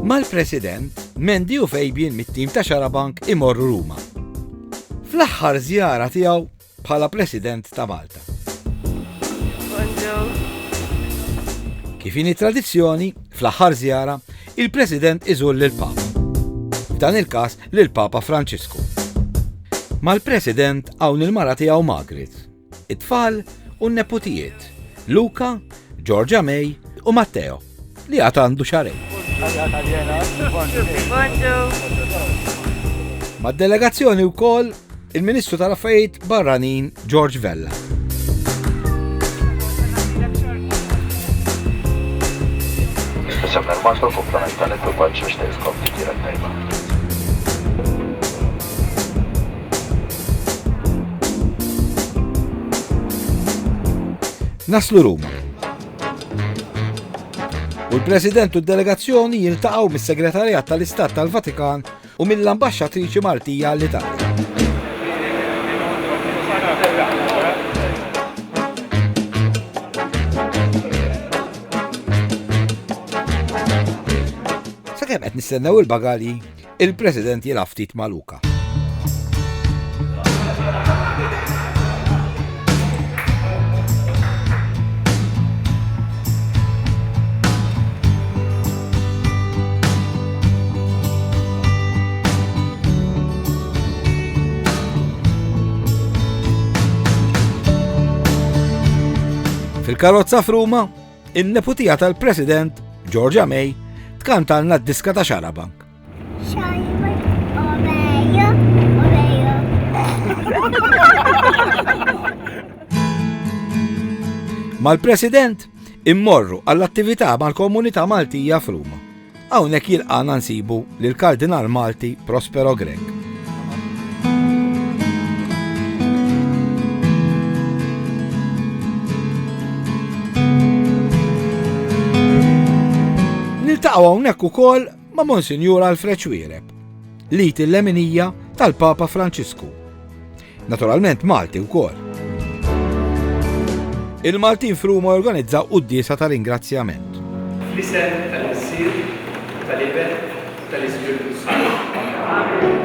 Mal-President, Mendi u Fabian mit-tim ta' Xarabank imorru Ruma. Fl-aħħar żjara tiegħu bħala President ta' Malta. Kif ini tradizzjoni, fl-aħħar żjara, il-President iżur lil papa F'dan il-każ lil Papa Franċisku. Mal-President hawn il-mara tiegħu Margaret it-tfal u n-neputijiet, Luca, Georgia May u Matteo, li għad għandu xarejn. Mad-delegazzjoni wkoll il-Ministru tal-Affarijiet Barranin George Vella. Naslu Ruma. U l-President u d-delegazzjoni jiltaqgħu mis-Segretarjat tal-Istat tal-Vatikan u mill-Ambaxxatriċi Maltija l-Italja. Sakemm qed nistennew il-bagali, Il-President jilgħab ftit ma' Luka. Fil-karozza f'Ruma, In-neputija tal-President, Georgia May, tkantalna d-diska ta' Xarabank. Mal-President immorru għall-attività mal-komunità Maltija f'Ruma. Hawnhekk jilqagħna nsibu lill-Kardinal Malti Prospero Grech. Niltaqgħu hawnhekk ukoll ma' Monsinjur Alfred Xwiereb, lit il-leminija tal-Papa Franċisku. Naturalment Malti wkoll. Il-Maltin f'Ruma jorganizza quddiesa ta' ringrazzjament. Fl-isem tal-Missier, tal-Iben, tal-Ispirtu Santu.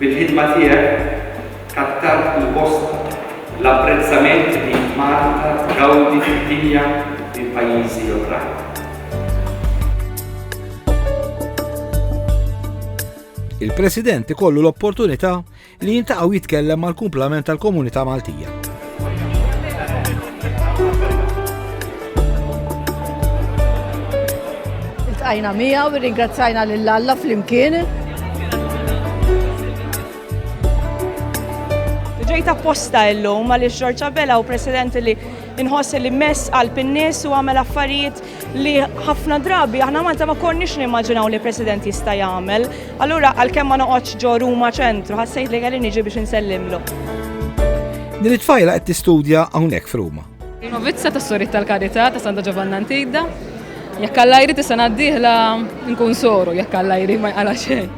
Bil-ħidma tiegħek kattar u bosta l-apprezzament li Malta tgawdi fid-dinja minn pajjiżi oħrajn. Il-President ikollu l-opportunità li jiltaqa' u jitkellem mal-kumplament tal-komunità Maltija. Iltqajna mija u ringrazzajna lil Alla flimkien. Ġejt apposta illum għaliex Ġorġa Bela u president li nħoss li mess għal pinnis u għamel affarijiet li ħafna drabi aħna Malta ma konniex nimmaġinaw li president jista' jagħmel. Allura għalkemm ma noqgħodx ġo Ruma ċentru, ħassejt li kelli niġi biex insellimlu. Din it-tfajla qed tistudja hawnhekk f'Ruma. Novizza tas Sorit tal-Karità ta' Santa Ġovanna Antidda. Jekk Alla jrid is-sena d-dieħla nkun soru, jekk Alla jrid ma jqala xejn.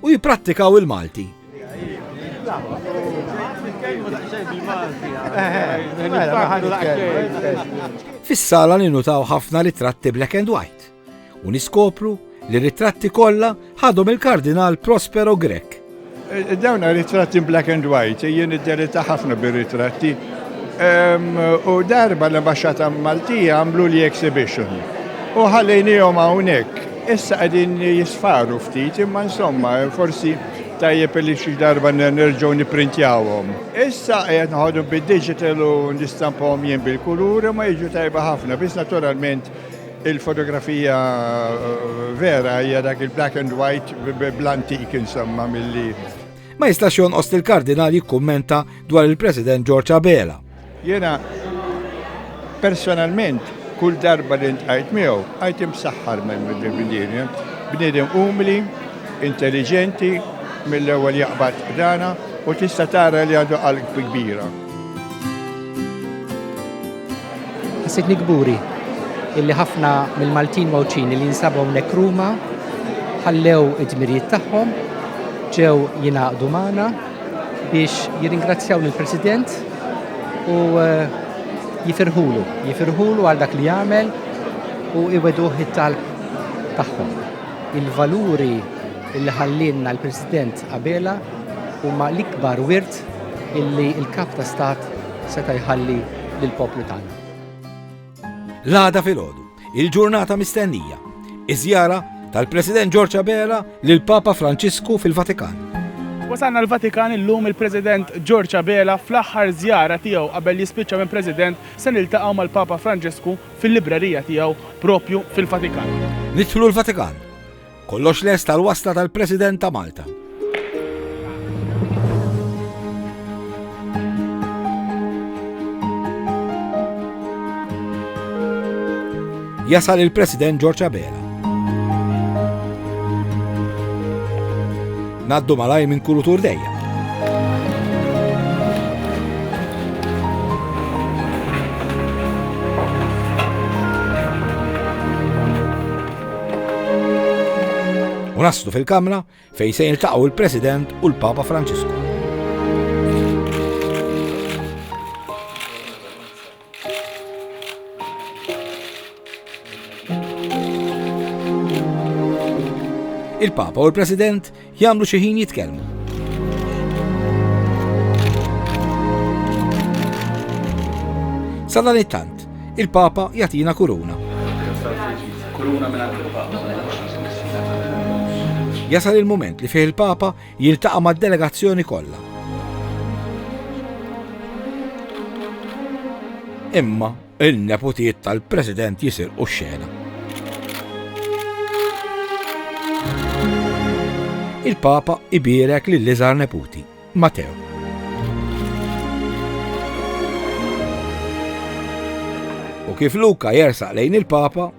u jipprattikaw il-Malti. Fis-sala ninutaw ħafna ritratti black and white u niskopru li ritratti kollha ħadhom il-Kardinal Prospero Grek. Eh, dawn ritratti black and white, eh, jien id-derita ħafna bir-ritratti. U darba l-ambasċata Maltija għamlu li exhibition. U ħallejnijom hawnhekk Issa qegħdin jisfaru ftit imma insomma forsi tajjeb li xi darba nerġgħu nipprintjawhom. Issa qed noħodhom bid-digital u nistampahom jien bil-kulur imma jiġu tajba ħafna biss naturalment il-fotografija vera hija dak il-black and white bl-antik insomma milli Ma jistax jonqos li l-Kardinal jikkummenta dwar il-President George Abela. Jiena personalment kull darba li ntqajt miegħu għajt imsaħħar minn mill-bniedem. Bniedem umli, intelligenti, mill-ewwel jaqbad dana u tista' tara li għadu qalb kbira. Ħassitni kburi illi ħafna mill-Maltin Mawċin li jinsabu hawnhekk Ruma ħallew id-dmirijiet tagħhom ġew jingħaqdu magħna biex jirringrazzjaw lill-President u eh, jifirħulu, jifirħulu għal dak li jagħmel u iweduh it-talb tagħhom. Il-valuri li ħallinna l-President Abela huma l-ikbar wirt illi il-kap ta' stat seta' jħalli lill-poplu tagħna. L-għada filgħodu, il-ġurnata mistennija, iż-żjara tal-President George Abela lil Papa Franċisku fil-Vatikan. Wasalna l-Vatikan illum il-President George Abela fl-aħħar żjara tiegħu qabel jispiċċa minn President se niltaqgħu mal-Papa Franġisku fil-librerija tiegħu propju fil-Vatikan. Nidħlu l-Vatikan. Kollox lest għal wasla tal-President ta' Malta. Jasal il-President George Abela. Naddu malaj minn kulutur dejja. U naslu fil-Kamra fejn se jiltaqgħu l-President u l-Papa Franċisku. Il-Papa u l-President Jagħmlu xi ħin jitkellmu. Sa dan it-tant, il-Papa jagħtina kuruna. Kuruna minn jasal il-moment li fih il-Papa jiltaqa' mad-delegazzjoni kollha. Imma Il-neputiet tal-President jisirqu x-xena. il-Papa ibirek li l-iżar neputi, Mateo. U kif Luka jersaq lejn il-Papa,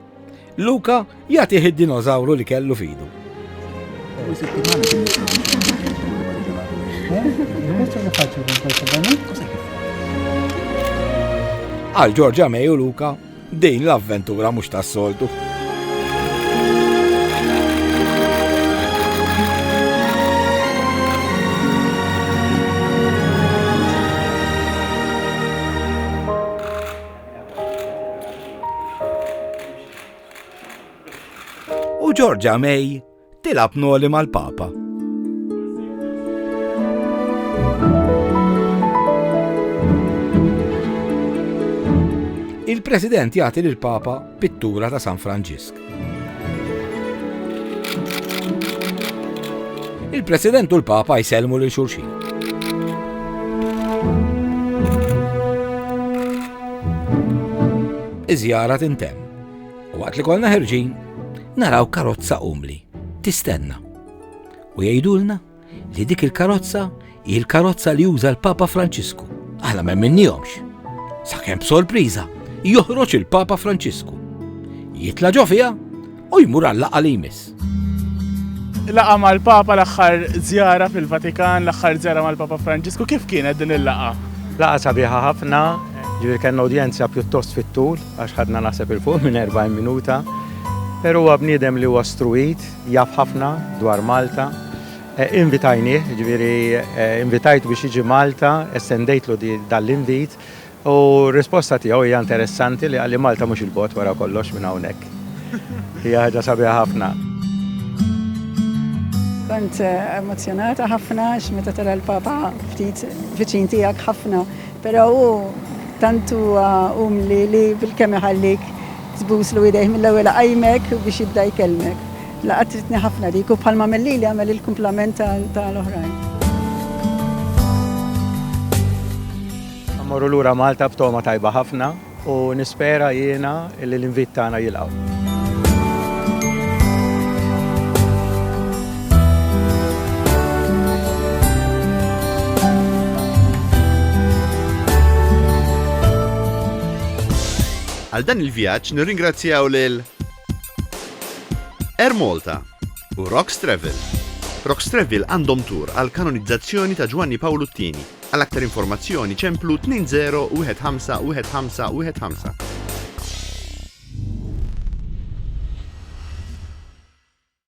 Luka jagħtih id-dinożawru li kellu fidu. Għal Ġorġa Meju Luka, din l-avventura mhux tas-soltu. U Georgia May tilab noli mal-Papa. Il-President jagħti lill-Papa pittura ta' San Franġisk. Il-President u l-Papa jsellmu lil xulxin. Iż-żjara tintemm u waqt li kollna ħerġin naraw karozza umli tistenna u jgħidulna li dik il-karozza hi l-karozza li uża l-Papa Franċisku. Aħna ma minnihomx. Sakemm b'sorpriża joħroġ il-Papa Franċisku. Jitla' ġo fiha u jmur għall-laqgħa li jmiss. Laqa mal-Papa l-aħħar żjara fil-Vatikan, l-aħħar żjara mal-Papa Franġisku, kif kienet din il-laqa? Laqa sabiħa ħafna, ġifier kellna udjenza pjuttost fit-tul għax ħadna naħseb il-fuq minn 40 minuta. Però huwa bniedem li huwa struwit, Jaf ħafna dwar Malta. Invitajnieh, jiġifieri invitajtu biex jiġi Malta, estendejtlu dan l-invit u r-risposta tiegħu hija interessanti li qalli Malta mhux 'il bogħod wara kollox minn hawnhekk. Hija ħaġa sabiħa ħafna. Kont emozzjonata ħafna għax meta tara l-Papa ftit viċin tiegħek ħafna, però hu tant huwa umli li bilkemm iħallik Tbuslu idejh mill-ewwel iqajmek biex jibda jkellmek. Laqgħa tridni ħafna dik u bħalma għamel lili għamel il-kumplament ta' l-oħrajn. Mmorru lura Malta b'togħma tajba ħafna u nispera jiena li l-invit tagħna jilqgħu. Għal dan il-vjaġġ nirringrazzjaw lil Air Malta u Rox Travel. Rox Travel għandhom tour għall-kanonizzazzjoni ta' Ġwanni Pawlu t-Tieni. Għal aktar informazzjoni ċemplu 20151515.